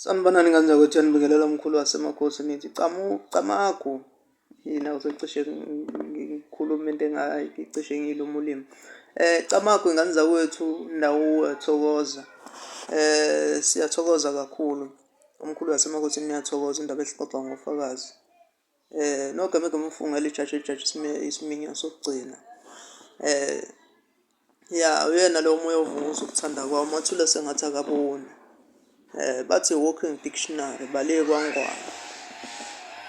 Sanibonani ngane zakwethu yanibingelela umkhulu wasemakhosi nithi camu camagu yina usecishe ngikhuluma into engayicishe ngiyiluma ulimi eh camagu ingane zakwethu ndawuwe thokoza eh siyathokoza kakhulu umkhulu wasemakhosi niyathokoza indaba ezixoxwa ngofakazi. Eh nokho ngeke umfunge lijaji ijaji isiminya sokugcina. Eh ya uyena lo moya ovuza ukuthanda kwawo mathule sengathi akaboni. Eh bathi walking dictionary bale kwangwana.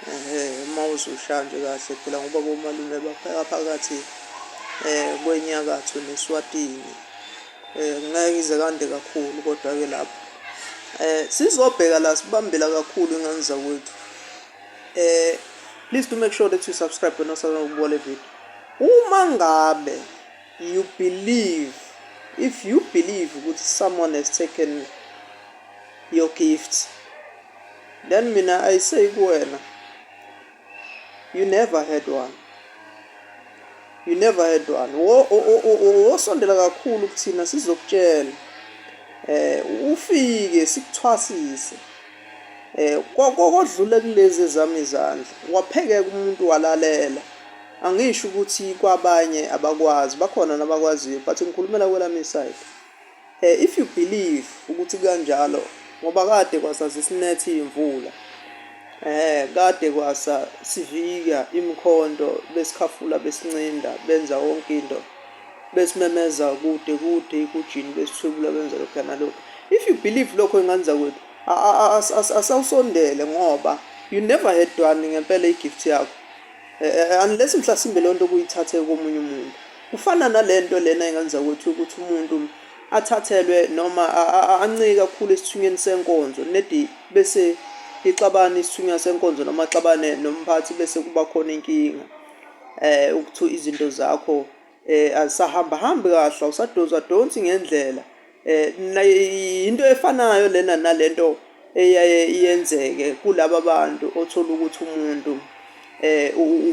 Eh uma uzusha nje kahle phela ngoba bomalume bapheka phakathi eh kwenyakatho neswatini. Eh ngeke ize kande kakhulu kodwa ke lapho. Eh sizobheka la sibambela kakhulu ingane zakwethu. eh please do make sure that you subscribe wena osazama ukubuka le video uma ngabe you believe if you believe ukuthi someone has taken your gifts then mina i say kuwena you never had one you never had one wosondela kakhulu kuthina sizokutshela eh ufike sikuthwasise Eh kodlule kulezi ezami izandla waphekeka umuntu walalela angisho ukuthi kwabanye abakwazi bakhona nabakwaziyo but ngikhulumela kwelami side eh if you believe ukuthi kanjalo ngoba kade kwasazi sinethi imvula eh kade kwasa sivika imkhonto besikhafula besincinda benza wonke into besimemeza kude kude ikujini besithwebula benza lokhu nalokhu if you believe lokho ingane zakwethu asawusondele ngoba you never had one ngempela i-gift yakho eh, eh, eh, unless mhlasimbe leyo nto kuyithathe komunye umuntu kufana nale nto lena ingane zakwethu ukuthi umuntu athathelwe noma ancike kakhulu esithunyweni senkonzo nedi bese ixabana isithunywa senkonzo noma axabane nomphathi bese kuba khona inkinga eh ukuthu izinto zakho eh azisahamba hambi kahle awusadonsa donsi ngendlela eh into efanayo lena nalento eyaye iyenzeke kulabo bantu othola ukuthi umuntu eh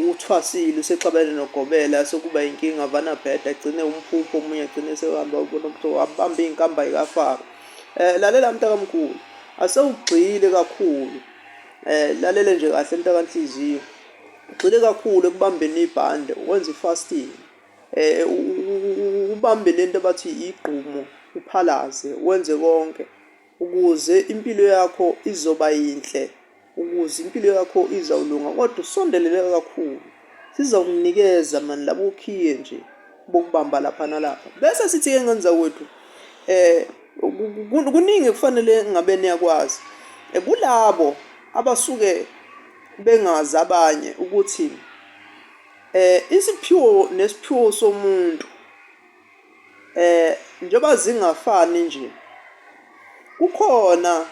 uthwasile usexabene nogobela sokuba inkinga vana bheda agcine umphupho omunye agcine sehamba ubona ukuthi wabamba inkamba ikafaka eh lalela mntakamkhulu asewugxile kakhulu eh lalele nje kahle mntakanhliziyo Ugxile kakhulu ekubambeni ibhande, ukwenza i-fasting. Um ubambe le nto abathi igqumo, uphalaze, wenze konke ukuze impilo yakho izoba yinhle, ukuze impilo yakho izawulunga kodwa usondelele kakhulu. Sizawukunikeza mani labo ukhiye nje bokubamba lapha nalapha. Bese sithi-ke ngenza kwethu um kuningi kufanele ngabe niyakwazi. Kulabo abasuke bengazi abanye ukuthi eh isiphiwo nesiphiwo somuntu eh njengoba zingafani nje kukhona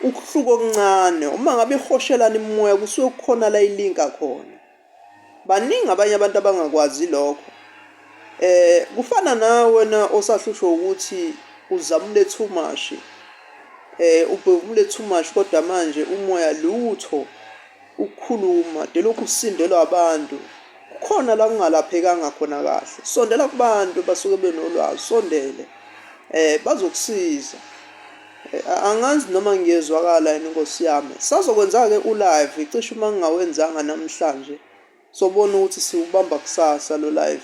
ukuhluka okuncane uma ngabe ihoshelana imimoya kusuke kukhona la ilinka khona. Baningi abanye abantu abangakwazi lokho. Eh kufana na wena osahlushwa ukuthi uzamule too much. Eh ubhevumule too much kodwa manje umoya lutho ukukhuluma delokhu usindelwa abantu. Kukhona la kungalaphekanga khona kahle. Sondela kubantu basuke benolwazi, sondele. Eh bazokusiza. Angazi noma ngiyezwakala yini Nkosi yami. Sazokwenzake u live cishe uma ngingawenzanga namhlanje sobona ukuthi siwubamba kusasa lo live.